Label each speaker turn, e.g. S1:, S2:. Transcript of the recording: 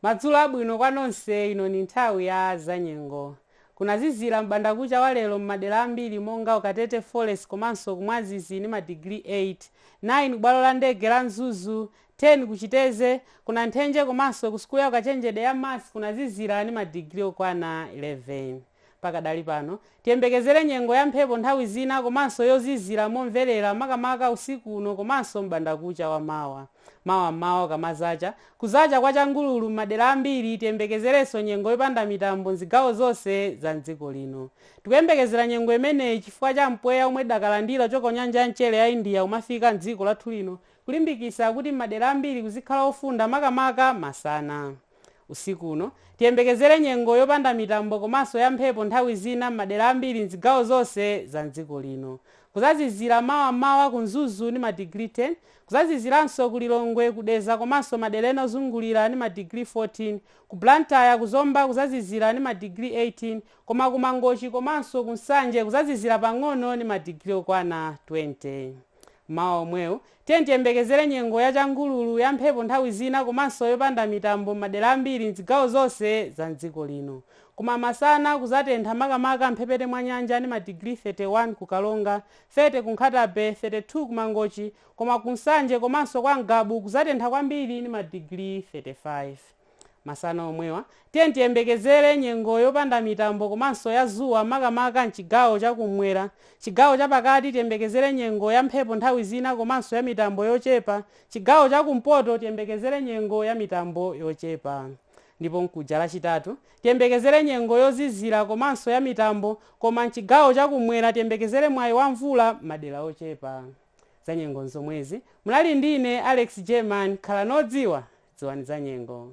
S1: Madzulo abwino kwa nonse, ino ni nthawi ya zanyengo. Kunazizila m'bandakuca wa lelo m'madela ambili monga ku Katete Forest komanso ku Mwazizi ni madigiri 8, 9 ku bwalo la ndege la Mzuzu, 10 ku Citeze, ku Nanthenje komanso ku sukulu ya ukachenjede ya MUST kunazizila ni madigiri okwana 11. Pakadali pano, tiyembekezere nyengo ya mphepo nthawi zina komanso yozizira momverera makamaka usiku uno komanso m'bandakucha wa mawa. Mawa m'mawa kukamazacha, kuzacha kwa changululu m'madera ambiri, tiyembekezerenso nyengo yopanda mitambo m'zigawo zonse za m'dziko lino. Tikuyembekezera nyengo imeneyi chifukwa cha mpweya omwe tidakalandira kuchoka ku nyanja ya mchere ya India kumafika m'dziko lathu lino kulimbikitsa kuti m'madera ambiri kuzikhala ofunda makamaka masana. Usiku uno, tiyembekezere nyengo yopanda mitambo komanso ya mphepo nthawi zina m'madera ambiri m'zigawo zonse za m'dziko lino. Kuzazizira mawa m'mawa ku Mzuzu ni ma degree 10, kuzaziziranso ku Lilongwe, ku Dedza komanso madera ena ozungulira ni ma degree 14, ku Blantyre, ku Zomba kuzazizira ni ma degree 18, koma ku Mangochi komanso ku Nsanje kuzazizira pang'ono ni ma degree okwana 20. M'mawa omwewu, Tiyeni tiyembekezere nyengo ya changululu, ya mphepo nthawi zina komanso yopanda mitambo m'madera ambiri m'zigawo zonse za m'dziko lino. Koma masana kuzatentha makamaka m'mphepete mwa nyanja ni madigiri 31 ku Karonga, 30 ku Nkhata Bay, 32 ku Mangochi, koma ku Nsanje komanso kwa Ngabu kuzatentha kwambiri ni madigiri 35. Masana omwewa, tiyeni tiyembekezere nyengo yopanda mitambo komanso ya zuwa makamaka mchigawo cha ku m'mwera. Chigawo cha pakati tiyembekezere nyengo ya mphepo nthawi zina komanso ya mitambo yochepa. Chigawo cha ku mpoto tiyembekezere nyengo ya mitambo yochepa. Ndipo mkuja lachitatu, tiyembekezere nyengo yozizira komanso ya mitambo koma mchigawo cha ku m'mwera tiyembekezere mwayi wa mvula m'madera ochepa. Zanyengo nzomwezi. Munali ndine Alex German, khalani odziwa, dziwani zanyengo.